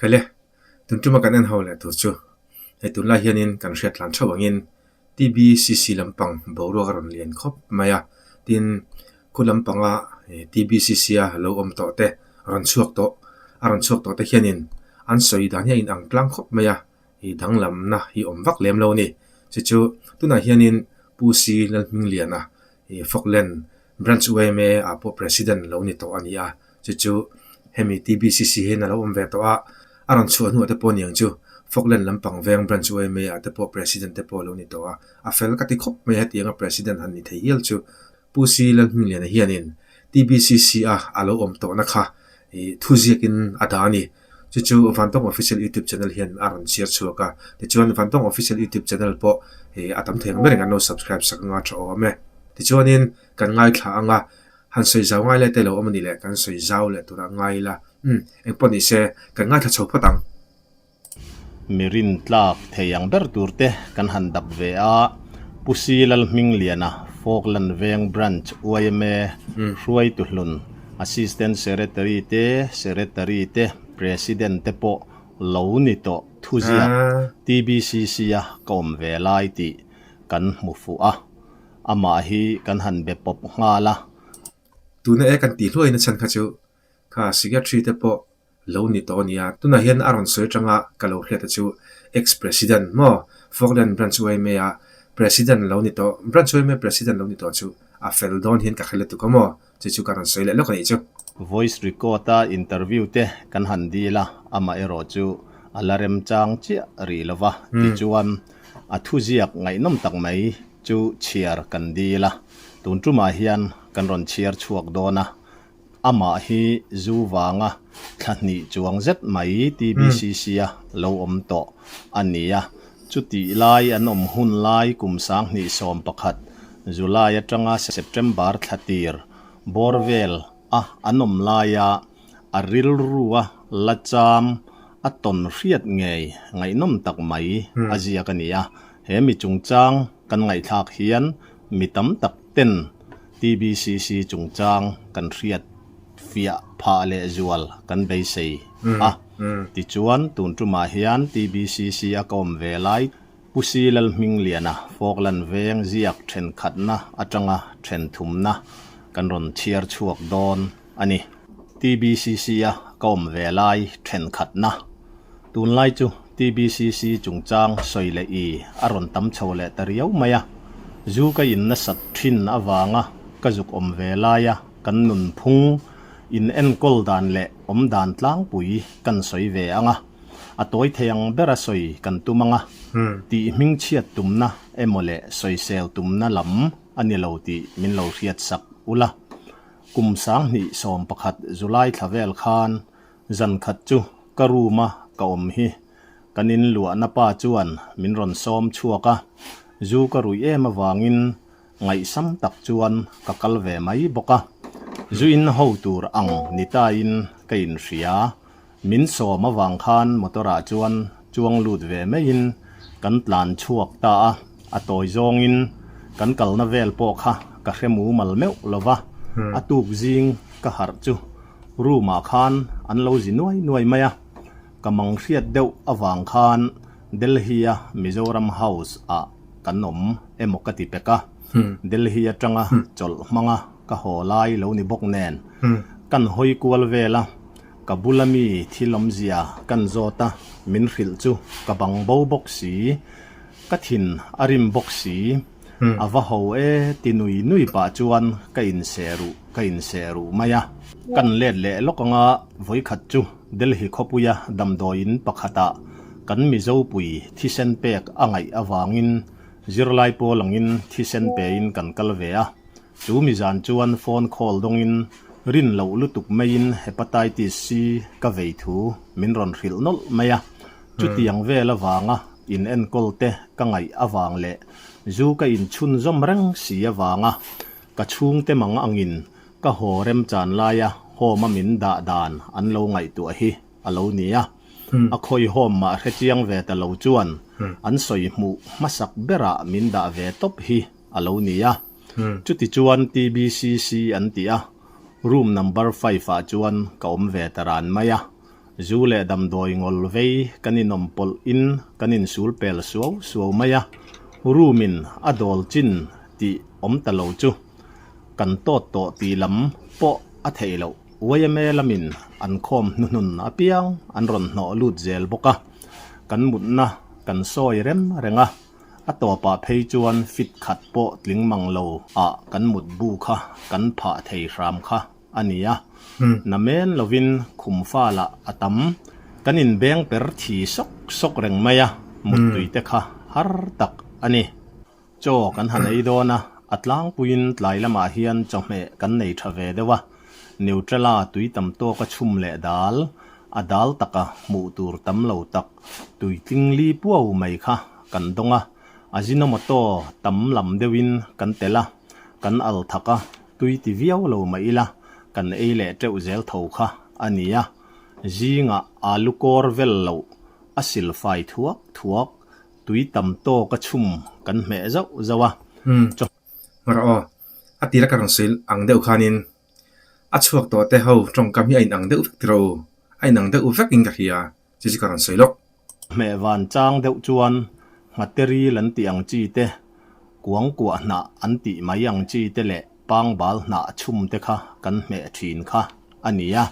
Hale tun ṭum a kan en ho leh tur chu hei tun lai hian in kan hriatlan ṭheuh ang in TBCC lam pang boruak a rawn lian khawp mai a tin khua lam pang a TBCC a lo awm tawh te a rawn chhuak tawh a rawn chhuak tawh te hian in an sawi dan hi a in ang tlang khawp mai a i dang lam na hi awm vak lem lo a ni chu chu tunah hian in Pu Sri Lalhming Liana I Falkland Branch UMA ah pawh President lo ni tawh a ni a, chu chu hemi TBCC hian a lo awm ve tawh a, a rawn chhuah hnuah te pawh niang chu Falkland lampang veng Branch UMA ah te pawh President te pawh lo ni tawh a, a fel ka ti khawp mai a hetianga President han ni thei hial chu Pu Si Lalhmunliana hianin TBCC a a lo awm tawhna kha i thuziakin a da a ni. Chu chu Vantawng Official YouTube Channel hian a rawn share chhuak a, tichuan Vantawng Official YouTube Channel pawh ih a tam thei ang ber engin an lo subscribe sak anga tha awm e. Tichuanin kan ngaithla anga han sawi zau ngai leh te lo awm a nih leh kan sawi zau leh tur a ngai ila umm engpawh ni se kan ngaithla chho phawt ang. Mi rin tlak thei ang ber tur te kan han dap ve a, Pusi Lalhmingliana Fawkland Veng Branch Uaime Hruaituhlun Assistant Secretary te, Secretary te, President te pawh lo ni tawh thu ziah TBCC-a ka awm ve lai tih kan hmu fuh a, amah hi kan han be pawp nghal a. Tuna e kan tih hluain a chhan kha chu, kha Secretary te pawh Lo ni tawh a nia, tunah hian a rawn sawi atanga ka lo hriat a chu Ex President maw? Falkland Branch uaime a President lo ni tawh, Branch uaime President lo ni tawh chu a fel dawn hian ka hrel lutuk a maw? Chu chu ka rawn sawi leh lawk a nih chu. Voice record a interview te kan han dil a, amah erawh chu a la remchang chiah rih lo va, tichuan a thu ziak ngaihnawm tak mai chu chhiar kan dil a, tun tumah hian kan rawn chhiar chhuak dawn a, Amah hi zu vanga thla hnih chuang zet mai TBCC a lo awm tawh a nia. Chutih lai an awm hun lai kum sang hnih sawm pakhat, July atanga September thla tir bawr vel a an awm laia a rilrua la cham a tawn hriat ngei ngaihnawm tak mai a ziak a nia. He mi chungchang kan ngaihthlak hian mi tam tak ten TBCC chungchang kan hriat fiah phah leh zual kan beisei a. Tichuan, tun tumah hian TBCC a ka awm ve lai Pu Si Lalhming Liana Fawklan veng ziak thenkhatna atanga then thumna kan rawn chhiar chhuak dawn. a ni. TBCC-a ka awm ve lai thenkhatna tunlai chu TBCC chungchang sawi leh i a rawn tam chho leh ta riau mai a, zu ka in nasat thin avanga ka zuk awm ve laia kan nunphung in enkawl dan leh awm dan tlangpui kan sawi ve ang a, a tawi thei ang bera sawi kan tum ang a, tih hmingchhiat tumna emaw leh sawisel tumna lam a ni lo tih min lo hriatsak ula Kum sang hnih sawm pakhat July thla vel khan zan khat chu ka room a ka awm hi kan in luahna pa chuan min rawn sawm chhuak a, zu ka ruih em avangin ngaihsam tak chuan ka kal ve mai bawk a, zu in ho tur ang ni ta in ka in hria Min sawm avang khan motor ah chuan chuang lut ve mai in kan tlan chhuak ta a, a tawi zawng in kan kalna vel pawh kha ka hre mumal meuh lo va, a tuk zing ka harh chu room ah khan an lo zi nuai nuai mai a, ka mang hriat deuh avang khan Delhi a Mizoram House ah kan awm emaw ka ti pek a, Delhi atanga chawlh hmanga. ka haw lai lo ni bawk nen kan hawi kual vel a, ka bula mi thil awmzia kan zawt a, min hrilh chu ka bang bo bawk si, ka thin a rim bawk si, a va ho e ti nui nui pah chuan ka inseh ruh ka inseh ruh mai a, kan let leh lawk anga vawikhat chu Delhi khawpuia damdawi in pakhatah kan Mizo pui thisen pek a ngaih avangin zirlai pawl angin thisen pe in kan kal ve a. Chu mi zan chuan phone call dawngin rin loh lutuk maiin Hepatitis C ka vei thu min rawn hrilh nawlh mai a. Chutiang vel avanga inenkawl te ka ngaih avang leh zu ka inchhun zawm reng si avanga ka chhungte mang angin ka haw remchan laia home-a min dah dan an lo ngaihtuah hi a lo ni a. A khawi home mah hrechiang ve ta lo chuan an sawi hmuh hmasak berah min dah ve tawp hi a lo ni a. Chuti chuan TBCC an ti a, room number five ah chuan ka awm ve ta ran mai a, zu leh damdawi ngol vei kan inawm pawlh in kan insul pel suau suau mai a, room in a dawl chin tih awm ta lo chu kan tawt tawh tih lam pawh a theih lo, yma lam in an khawm hnuhnun apiang an rawn hnawh lut zel bawk a, kan mutna kan sawi rem reng a. A tawpah phei chuan fit khat pawh tling mang lo ah kan mut bu kha kan phah thei hram kha a ni a, na men lovin khum fa lah a tam. Kan in beng per thi sawk sawk reng mai a, mut tui te kha har tak a ni. Chaw kan han ei dawn a, a tlangpuiin tlai lamah hian chawhmeh kan nei tha ve deuh a. Neutrala tui tam tawka chhum leh dal a dal taka hmuh tur tam lo tak tui tling li puau mai kha kan dawng a, Ajinomoto tam lam deuhin kan tel a, kan al thak a, tui ti viau lo mah ila kan ei leh teuh zel tho kha a ni a, zingah alu kawr vel loh a sil fai thuak thuak tui tam tawka chhum kan hmeh zauh zauh a. Hmarh aw, a tila ka rawn sawi ang deuh khanin a chhuak tawhte ho tawngkam hi a inang deuh vek tilo, a inang deuh vekin ka hria chi chu ka rawn sawi lawk. Hmehvan chang deuh chuan Hmateri lan tih ang chi te, Kuangkuah hnah an tih mai ang chi te leh Pangbal hnah a chhum te kha kan hmeh thin kha. a ni a,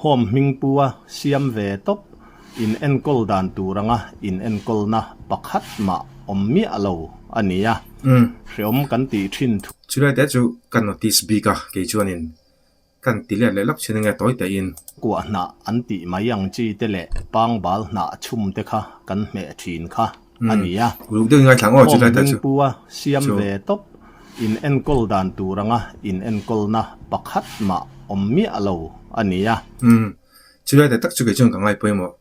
home hming pua siam ve tawp in enkawl dan tur anga in enkawlna pakhat mah awm miah lo a ni a, hreawm kan tih thin thu. Chulai te chu ka notice bik a, kei chuanin kan ti let leh lak thin ange tawi tehin. Kuah hnah an tih mai ang chi te leh pangbal hnah chhum te kha kan hmeh thin kha. a ni a. Ruk deuhin ka thlang aw chu tlai ta chu. Hawm Hmingpu a siam ve tawp in enkawl dan tur anga in enkawlna pakhat mah awm miah lo a ni a. Umm, chu tlai ta tak chu kei chuan ka ngai pawimawh.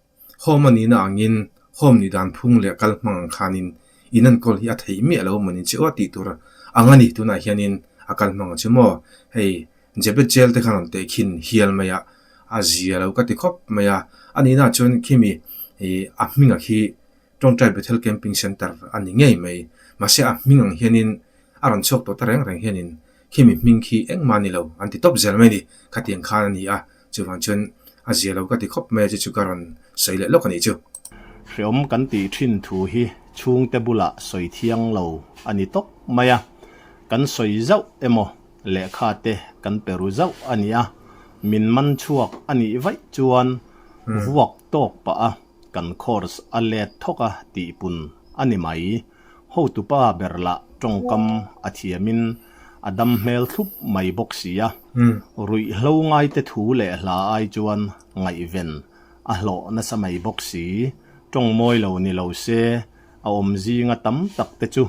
Hawm a nihna angin hawm nih dan phung leh kal hmang ang khanin in enkawl hi a theih miah lo manin che aw tih tur ang a ni. Tunah hianin a kal hmang a chu maw hei Jebet Jail te khan rawn teh khin hial mai a, a zia lo ka ti khawp mai a. A nihnaah chuan khemi a hmingah khi Tawngtai Bethel Camping Centre a ni ngei mai. Mahse a hming ang hianin a rawn chhuak tawh ta reng reng hianin Khemi hming khi engmah a ni lo, an ti tawp zel mai a ni, khatiang khan a ni a, chuvang chuan a zia lo ka ti khawp mai a chu chu ka rawn sawi leh lawk a nih chu. Hrehawm kan tih thin thu hi chhungte bulah sawi thiang lo a ni tawp mai a, kan sawi zauh emaw lehkha te kan pe ru zauh a ni a, min man chhuak a nih vaih chuan vuak tawk pah a. Kan course a let thawk a tih pun a ni mai. Hotupa ber lah tawngkam a thiamin a dam hmel thup mai bawk sia. Ruih hlo ngaite thu leh hla ai chuan ngaihven a hlawh nasa mai bawk si. Tawng mawi lo ni lo se, a awm zinga tam tak te chu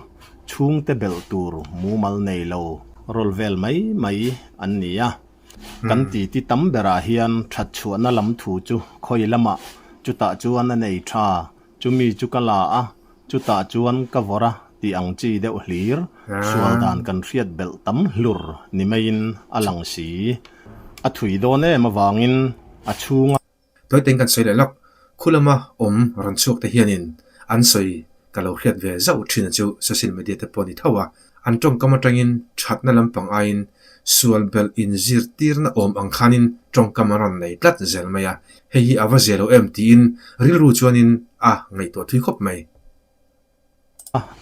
chhungte belh tur mumal nei lo rawl vel mai mai an ni a. Kan titi tam berah hian thatchhuahna lam thu chu khawi lama chutah chuan a nei tha, chumi chu ka la a, chutah chuan ka vawr a tih ang chi deuh hlir, sual dan kan hriat belh tam hlur ni maiin a lang si. A thui dawn em avangin a chhunga. Toiteng kan sawi leh lak, khulama awm ran chhuak te hianin an sawi ka lo hriat ve zauh thin a chu social media te pawh a ni tho a, an tawngkam atangin thatna lampang aiin sual belh in zirtirna awm ang khanin tawngkam an rawn nei tlat zel mai a, hei hi a va ze lo em tiin rilru chuanin a ngaihtuah thui khawp mai.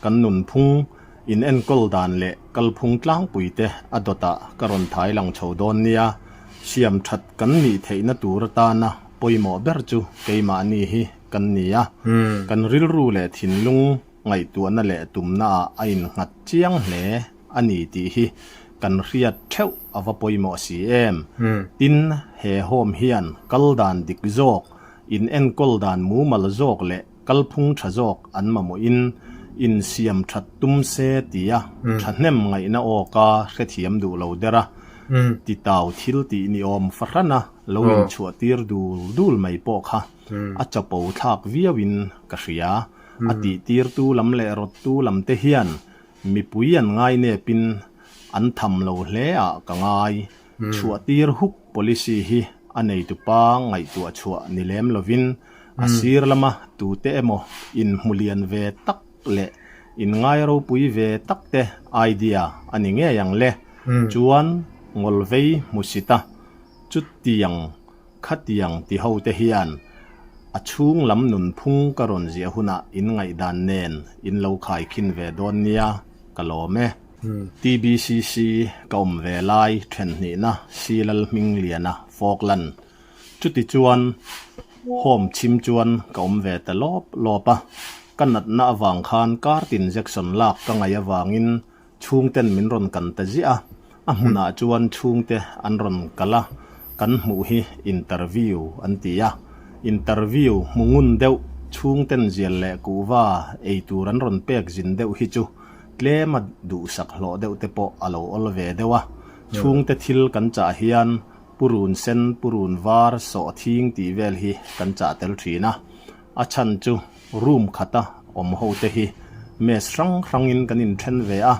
Kan nunphung in enkawl dan leh kalphung tlangpui te a dawt ah ka rawn thai lang chho dawn nia, siam that kan nih theih na tur atan a pawimawh ber chu keimah ni hi kan ni a, kan rilru leh thinlung ngaihtuah na leh tum na ah a in nghat chiang hle a ni tih hi kan hriat theuh a va pawimawh si em, tin he home hian kal dan dik zawk, in enkawl dan mumal zawk leh Kalphung tha zawk an mamawhin insiam that tum se tia thahnem ngaihna awka hrethiam duh lo der a titau thil tih ni awm fahrana lo inchhuahtir dul dul mai pawh kha a chapo thlak viauin ka hria. A tihtirtu lam leh rawttu lam te hian mipui an ngainepin an tham lo hle ah ka ngai. Chhuah tir huk policy hi a neitupa ngaihtuah chhuah ni lem lovin a sir lama tute emaw inhmu lian ve tak leh inngai ropui ve tak te idea a ni ngei ang le. Chuan Ngawlvei hmusita chutiang khatiang ti ho te hian a chhung lam nunphung ka rawn ziah hunah in ngaihdan nen in lo khaikhin ve dawn nia ka lawm e. TBCC ka awm ve lai thenhnihna Silal Hmingliana fawk lan chuti chuan home chhim chuan ka awm ve ta lawp lawp a, ka natna avang khan card injection lak ka ngaih avangin chhungten min rawn kan ta ziah a, a hmunah chuan chhungte an rawn kal a, kan hmuh hi interview an ti a, interview hmu ngun deuh chhungten zial leh kuhva ei tur an rawn pek zin deuh hi chu tlem a duhsak hlawh deuh te pawh a lo awl ve deuh a, chhungte thil kan chah hian Pu Run Sen, Pu Run Var, Sawh Thing tih vel hi kan chah tel thin a, a chhan chu room khata awm ho te hi Mass hrang hrangin kan inthen ve a,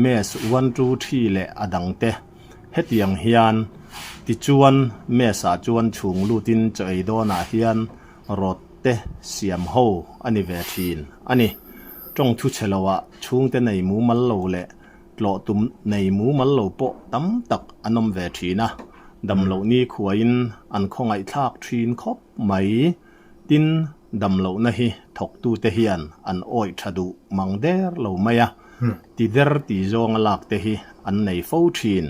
Mass one two three leh a dang te, hetiang hian tichuan Mass-a chuan chhung lutin chaw ei dawnah hian Rod te siam ho a ni ve thin a ni. Tawng thuchhe lo ah chhungte nei mumal lo leh tlawh tum nei mumal lo pawh tam tak an awm ve thin a, damloh nikhuain an khawngaihthlak thin khawp mai. Tin, damlohna hi thawktute hian an awih tha duh mang der lo mai a, ti der ti zawnga lakte hi an nei fo thin.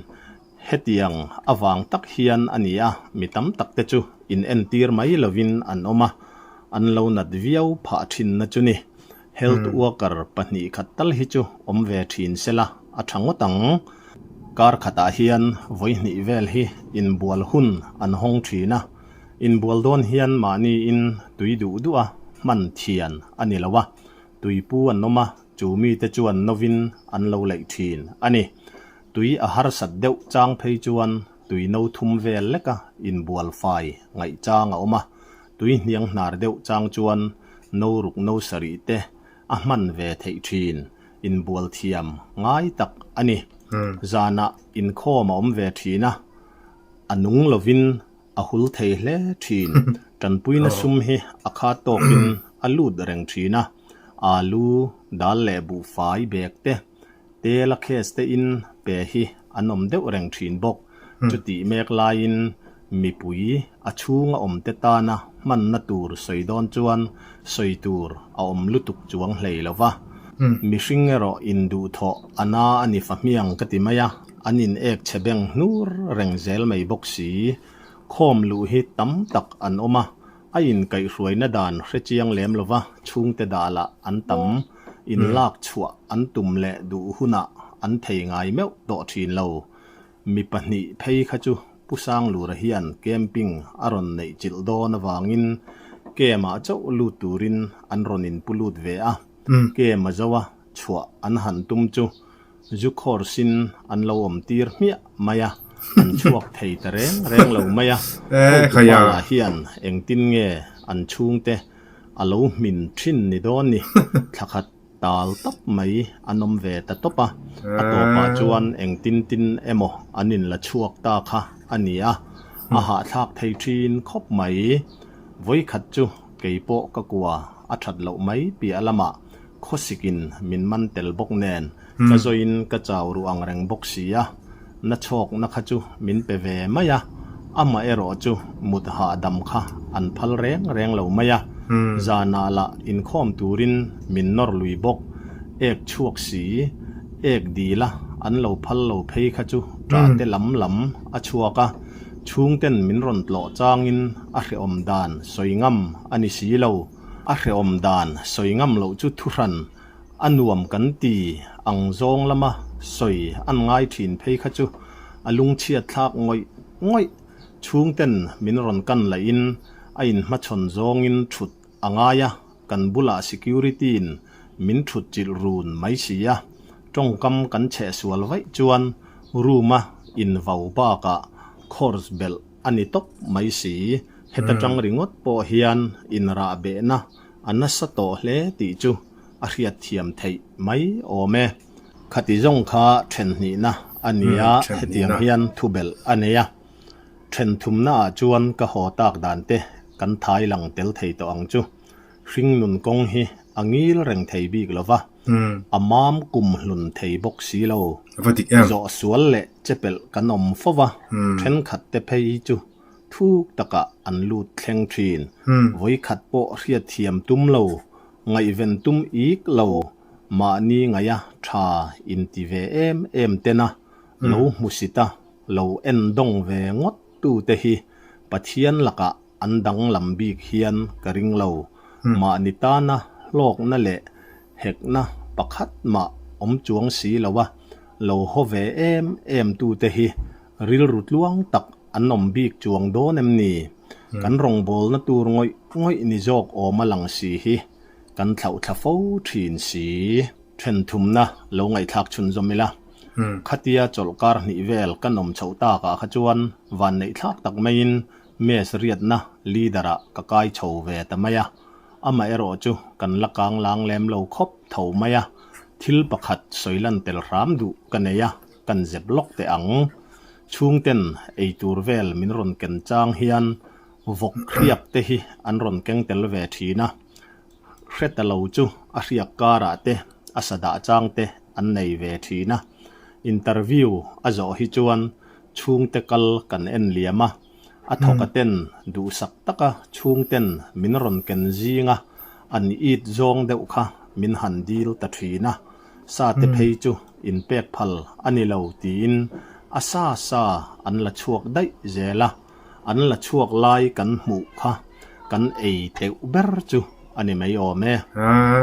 Hetiang avang tak hian a ni a, mi tam tak te chu in entir mai lovin an awm a, an lo nat viau phah thinna chu ni. Health worker pahnih khat tal hi chu awm ve thin se la, a tha ngawt ang. Kar khatah hian vawihnih vel hi inbual hun an hawng thin a, inbual dawn hian mahniin tui duh duh a hman thian a ni lo a, tuipu an awm a, chu mite chuan novin an lo laih thin a ni. Tui a harsat deuh chang phei chuan tui no thum vel leka inbual fai ngaih chang a awm a, tui hniang hnar deuh chang chuan no ruk no sarih te a hman ve theih thin inbual thiam ngai tak a ni. Zanah inkhawm a awm ve thin a, a nung lovin a hul thei hle thin. Tanpuina sum hi a kha tawkin a lut reng thin a, alu, dal leh buh fai bag te Tela case te in pe hi an awm deuh reng thin bawk. Chutih mek laiin mipui a chhung a awmte tana hmanna tur sawi dawn chuan sawi tur a awm lutuk chuang hlei lo va. Mihring erawh induhthawh ana a ni fa hmiang ka ti mai a, an inêk chhe beng hnur reng zel mai bawk si. Khawm luh hi tam tak an awm a, A inkaihhruaina dan hrechiang lem lo va, chhungte dah lah an tam, inlak chhuah an tum leh duh hunah an thei ngai meuh tawh thin lo. Mi pahnih phei kha chu Pu Sanglura hian camping a rawn neih chilh dawn avangin camp ah chauh lut turin an rawn inpu lut ve a, camp a zo a chhuah an han tum chu, Zu khawr sin an lo awm tir hmiah mai a, an chhuak thei ta reng reng lo mai a, hotu hmalah hian engtin nge an chhungte a lo hmin thin ni dawn ni, thla khat tal tap mai an awm ve ta tawp a, a tawpah chuan engtin tin emaw an in la chhuak ta kha a ni a, a hahthlak thei thin khawp mai, vawi khat chu kei pawh ka kua a that loh mai piah lamah Khawsikin min man tel bawk nen ka zawiin ka chau ruh ang reng bawk si a, na chhawkna kha chu min pe ve mai a, amah erawh chu mut hahdam kha an phal reng reng lo mai a, zanah lah inkhawm turin min nawr lui bawk, ek chhuak si, ek dil a an lo phal lo phei kha chu ta te lam lam a chhuak a, chhungten min rawn tlawh changin a hreawm dan sawi ngam a ni si lo. A hrehawm dan sawi ngam loh chu thuhran a nuam kan ti ang zawng lama sawi an ngai thin phei kha chu a lungchhiat thlak ngawih ngawih. Chhungten min rawn kan lahin a inhmachhawn zawngin thut a ngai a, kan bulah security-in min thut chilh run mai si a. Tawngkam kan chheh sual vaih chuan room-a invo bakah course belh A ni tawp mai si i, heta tang ringawt pawh hian inrah behna a nasa tawh hle tih chu a hriatthiam theih mai awm e. Khati zawng kha ṭhenhnihna a ni a, hetiang hian thubelh a nei a. Ṭhenthumnaah chuan ka haw tak dan te kan thailang tel thei tawh ang chu. Hringnun kawng hi a ngil reng thei bik lo va, a mam kum hlun thei bawk si lo. Va dik em! Zawhsual leh chepelh kan awm fo va, thenkhat te phei chu thuk takah an lut thleng thin. Vawikhat pawh hriatthiam tum lo, ngaihven tum ik lo, mahni ngaia tha in ti ve em em tena lo hmusit a, lo en dawng ve ngawt tu te hi Pathian lakah An danglam bik hian ka ring lo. Mahni tana hlawkna leh hekna pakhat mah awm chuang si lo a, lo haw ve em em tu te hi rilru tluang tak an awm bik chuang dawn em ni? Kan rawngbawlna tur ngawih ngawih ni zawk awm a lang si hi kan thlauhthla fo thin si. Thenthumna lo ngaihthlak chhun zawm ila, khatia chawlhkar hnih vel kan awm chhoh takah kha chuan vanneihthlak tak maiin Match riatna leader ah ka kai chho ve ta mai a, amah erawh chu kan la kang lang lem lo khawp tho mai a, thil pakhat sawi lan tel hram duh ka nei a, kan zep lawk teh ang. Chhungten ei tur vel min rawn ken chang hian vawk hriak te hi an rawn keng tel ve thin a, hre ta lo chu a hriak karah te a sa dah chang te an nei ve thin a, interview a zawh hi chuan Chhungte kal kan en liam a, a thawka ten duhsak taka chhung ten min rawn ken zing a, an it zawng deuh kha min han dil ta thin a, sa te phei chu in pek phal a ni lo tiin a sa sa an la chhuak daih zel a, an la chhuak lai kan hmuh kha kan ei teuh ber chu a ni mai awm e.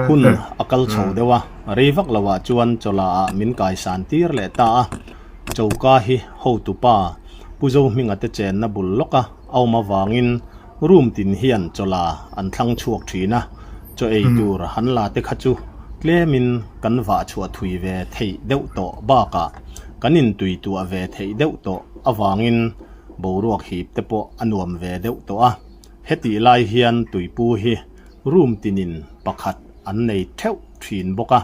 Hun a kal chho deuh a, rei vak lo ah chuan chawla ah min kai san tir leh ta a, choka hi hotu pa Pu Zo Hminga te chenna bul lawk a a awm avangin room tin hian chawla an thlang chhuak thin a, chaw ei tur han la te kha chu tlemin kan vah chhuah thui ve theih deuh tawh bakah kan intuituah ve theih deuh tawh avangin, boruak hip te pawh a nuam ve deuh tawh a, hetih lai hian tuipu hi room tinin pakhat an nei theuh thin bawk a,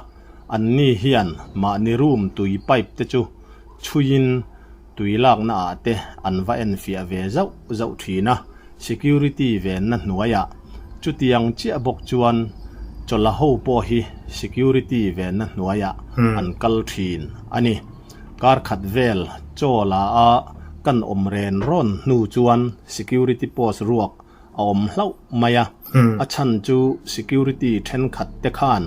an ni hian mahni room tui pipe te chu chhuiin tui lakna ah te an va en fiah ve zauh zauh thin a, security venna hnuaiah chutiang chiah bawk chuan chawla ho pawh hi security venna hnuaiah an kal thin a ni. Kar khat vel chaw la a kan awm ren rawn hnu chuan security post ruak a awm hlauh mai a, a chhan chu security thenkhat te khan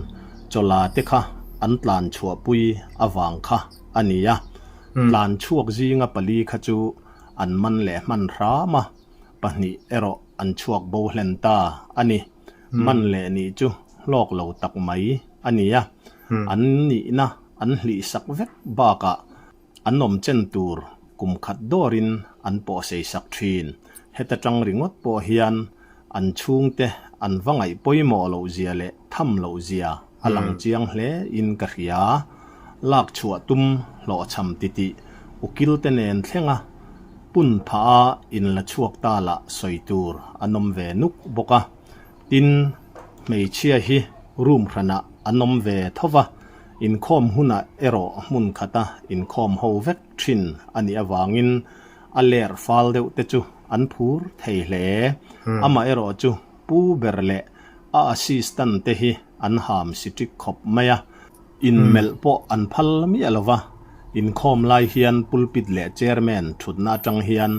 chaw la te kha an tlan chhuah pui avang kha a ni a, tlan chhuak zinga pali kha chu an man leh hman hram a, pahnih erawh an chhuak bohlen ta a ni. man leh nih chu hlawk lo tak mai a ni a, an nihna an hlihsak vek bakah an awmchen tur kum khat dawrin an pawhseisak thin. Heta tang ringawt pawh hian an chhungte an va ngaih pawimawh lohzia leh tham lohzia A lang chiang hle in ka hria lak chhuah tum hlawh chham ti ti ukil te nen thleng a pun phah a in la chhuak ta lah sawi tur a nawm ve nuk bawk a tin hmeichhia hi room hran ah a nawm ve tho va inkhawm hun ah erawh hmun khat a inkhawm ho vek thin a nih avang in a ler fal deuh te chu an phur thei hle amah erawh chu Pu ber leh a assistant te hi an ham si tik khawp mai a, inmelh pawh an phal miah lo va, inkhawm lai hian pulpit leh chairman thutna atang hian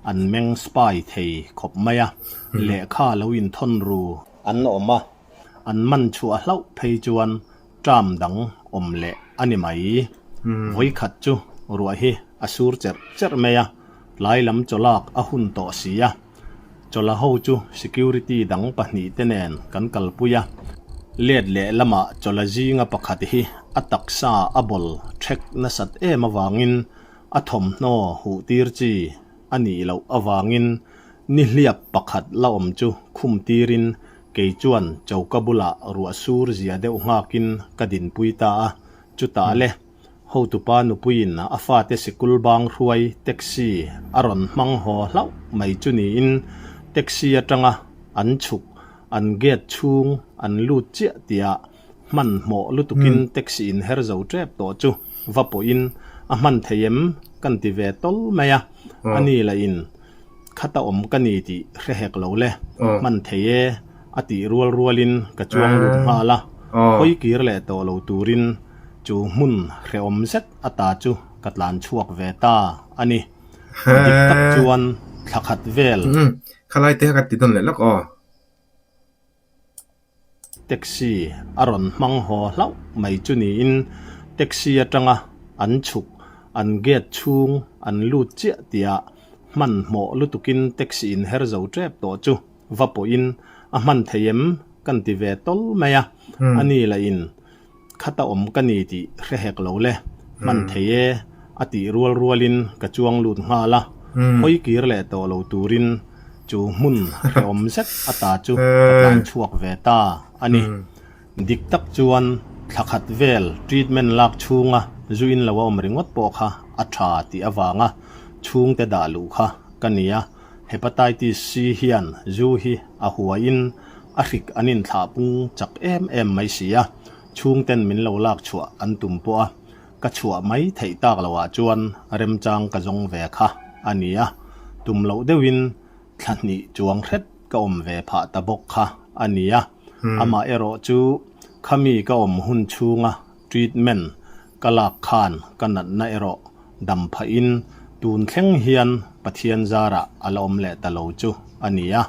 an meng spy thei khawp mai a, lehkha lo inthawn ru an awm a, an manchhuah hlauh phei chuan Ṭam dang awm leh a ni mai. Vawi khat chu ruah hi a sur cherh cherh mai a, tlai lam chaw lak a hun tawh si a. Chawla ho chu security dang pahnih te nen kan kalpui a, let leh lamah chawla zinga pakhat hi a taksa a bawl ṭhek nasat em avangin a thawmhnaw huhtir chi a nih loh avangin nihliap pakhat la awm chu khumtirin Kei chuan choka bulah ruah sur zia deuh nghâkin ka dinpui ta a, chutah le hotupa nupuiin a fate sikul bâng hruai taxi a rawn hmang haw hlauh mai chu niin taxi atanga an chhuk, an gate chhûng an lût chiah tiah Hmanhmawh lutukin taxi in her zo tep tawh chu va pawhin a hman thei em kan ti ve tawl mai a, a ni la in khata awm ka ni tih hre hek lo le hman thei e a tih rual rual in ka chuang lut nghal a, hawi kir leh tawh lo turin chu hmun hrehawm zet a ta chu ka tlan chhuak ve ta a ni. Dik tak chuan thla khat vel. Khalai te kha ka ti dawn leh lawk aw. Taxi a rawn hmang haw hlauh mai chu niin taxi atanga an chhuk an gate chhung an lut chiah tia hmanhmawh lutukin taxi in her zo tep tawh chu va pawhin a hman thei em kan ti ve tawl mai a, ani lahin. Khat a awm ka ni tih hre hek lo le, hman thei e a tih rual rualin ka chuang lut nghal a, hawi kir leh tawh lo turin chu hmun hre awm zet ata chu ka tlan chhuak ve ta a ni. Dik tak chuan thla khat vel treatment lak chhunga zuin lo a awm ringawt pawh kha a tha tih avanga chhungte dah luh kha ka ni a. Hepatitis C hian zu hi a huaiin a hrik an inthlah pung chak em em mai si a, chhungten min lo lak chhuah an tum pawh a, ka chhuah mai theih tak lo ah chuan remchang ka zawng ve kha a ni a, tum loh deuh in thla hnih chuang hret ka awm ve phah ta bawk kha a ni a, amah erawh chu khami ka awm hun chhunga treatment Ka lak khan ka natna erawh dam phah in tun thleng hian Pathian zarah a la awm leh ta lo chu a ni a,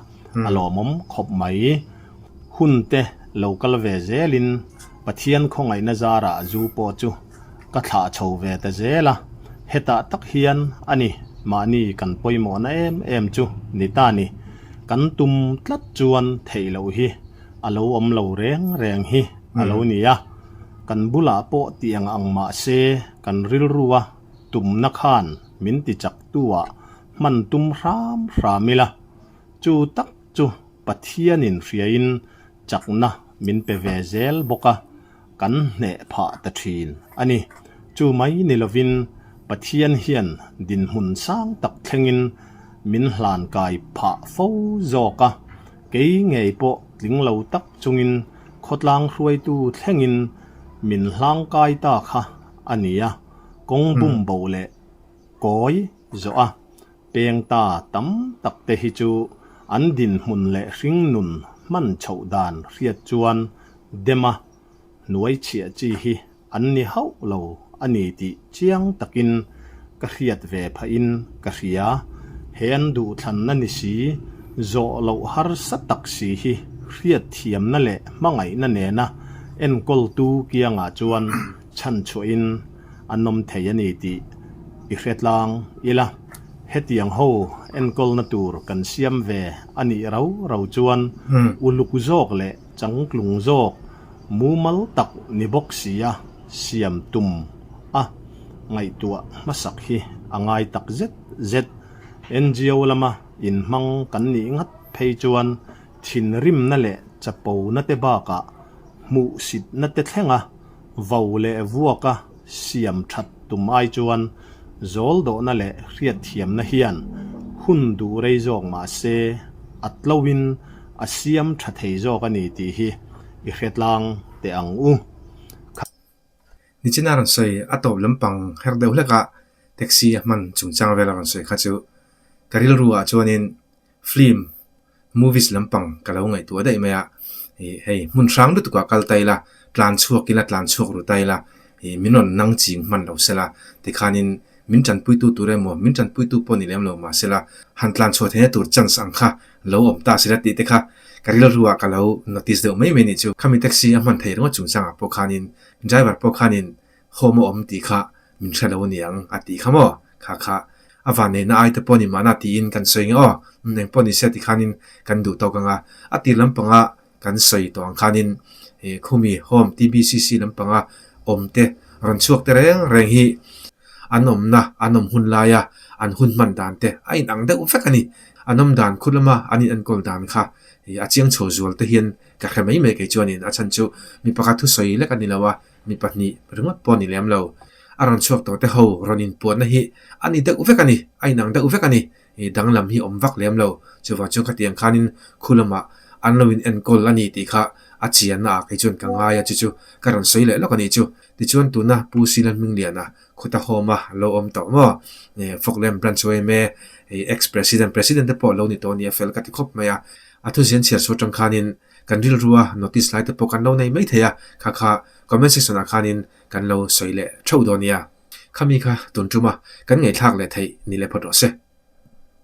a lawmawm khawp mai. Hun te lo kal ve zel in Pathian khawngaihna zarah a zu pawh chu ka thlah chho ve ta zel a, hetah tak hian a ni mahni kan pawimawhna em em chu ni ta ni. Kan tum tlat chuan theih loh hi a lo awm lo reng reng hi a lo ni a. Kan bulah pawh ti ang ang mah se, kan rilrua tumna khan min ti chak tu-ah hman tum hram hram ila, chu tak chu Pathianin hriain chakna min pe ve zel bawk a, kan hneh phah ta thin a ni. Chu mai ni lovin Pathian hian dinhmun sang tak thlengin min hlan kai phah fo zawk a, kei ngei pawh tling lo tak chungin, khawtlang hruaitu thlengin min hlang kai ta kha a ni a, kawng bum bo leh kawi zawh a peng ta tam tak te hi chu an dinhmun leh hringnun hman chhoh dan hriat chuan dema hnuaichhiah chi hi An ni hauh lo a ni tih chiang takin ka hriat ve phah in ka hria. He an duhthlanna ni si, zawh loh harsa tak si hi hriatthiamna leh hmangaihna nena enkawltu kiangah chuan chhan chhuah in an awm thei a ni tih i hretlang ila. Hetiang ho enkawlna tur kan siam ve a nih rau rau chuan uluk zawk leh Changtlung zawk mumal tak ni bawk sia siam tum a ngaihtuah hmasak hi a ngai tak zet zet. NGO lama inhmang kan nih ngat phei chuan thinrimna leh chapo nate bakah hmuhsitna te thlenga Vo leh vuaka siam that tum ai chuan zawldawhna leh hriatthiamna hian hun duh rei zawk mah se, a tloin a siam tha thei zawk a ni tih hi i hretlang teh ang u. Kha. Nichina a rawn sawi a tawp lampang her deuh hlekah taxi a hman chungchang vel a rawn sawi kha chu ka rilru ah chuanin Film, movies, lampang ka lo ngaihtuah daih mai a, hei hmun hrang lutuk ah kal ta ila, tlan chhuak ila, tlan chhuak ru ta ila, min rawn nang ching hman lo se la, tikhanin min tanpuitu tur emaw, min tanpuitu pawh ni lem lo mah se la, han tlan chhuah thei na tur chance ang kha lo awm ta si la tih te kha ka rilru ah ka lo notice deuh mai mai a nih chu. Khami taxi a hman thei rawng a chungchang ah pawh khanin driver pawh khanin Home a awm tih kha min hre lo ani ang a tih kha maw? Kha kha. A vanneihna aite pawh ni mahna tiin kan sawi nge aw, umm eng pawh ni se ti khanin kan duh tawk ang a. A tir lampanga kan sawi tawh ang khanin he khumi home TBCC lampanga awmte rawn chhuakte reng reng hi an awmna an awm hun laia an hun hman dan te a inang deuh vek a ni. A nawm dan khut lama an inenkawl dan kha a chiang chho zual te hian ka hre mai mai kei chuanin a chhan chu mi pakhat thusawi lek a ni lo a, Mi pahnih ringawt pawh a ni lem lo. A rawn chhuak tawh te ho rawn inpuahna hi a ni deuh vek a ni, a inang deuh vek a ni. I danglam hi awm vak lem lo. Chuvang chuan khatiang khanin khu lama an lo in enkawl a ni tih kha a chianna ah kei chuan ka ngai a, chu chu ka rawn sawi leh lawk a nih chu. Tichuan tuna Pu Silan Hmingliana kut a hawm a, a lo awm tawh maw? Focklem Branch ho em e, Ex-President, President te pawh lo ni tawh a ni a fel ka ti khawp mai a. A thuziahna chhiar chu atang khanin kan rilru a notice lai te pawh kan lo nei mai thei a kha kha comment section ah khan in kan lo sawi leh theuh dawn nia khami kha tun tuma kan ngaithlak leh theih ni leh phawt rawh se.